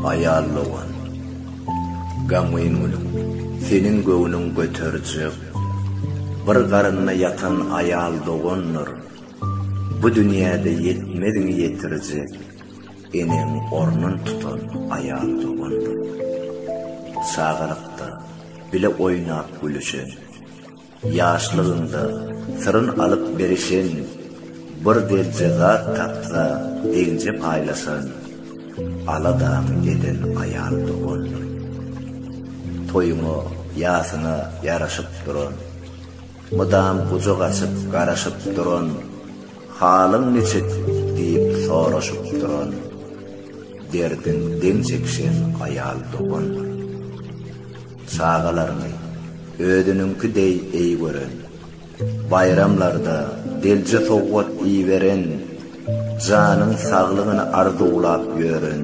Aýal dogan, gamgyn gülüm, seniň göwnüň göterjek, bir garynda ýatan aýal dogandyr. Bu dünýäde ýetmezini ýetirjek eneň ornun tutan aýal dogandyr. Çagalykda bile oýnap-gülüşen, ýaşlygyňda syryn alyp berişen, bir delje zat tapsa deňje paýlaşan, aladaňy eden aýal dogandyr. Toýuňa, ýasyňa ýaraşyp duran. Mydam gujak açyp garaşyp duran, Halyň niçik? diýip soraşyp duran, Derdiň deň çekişen aýal dogandyr. Çagalaryny özüniňki deý eý gören, Baýramlarda delje sowgat iýiberen, Janyň saglygyny arzuwlap ýören,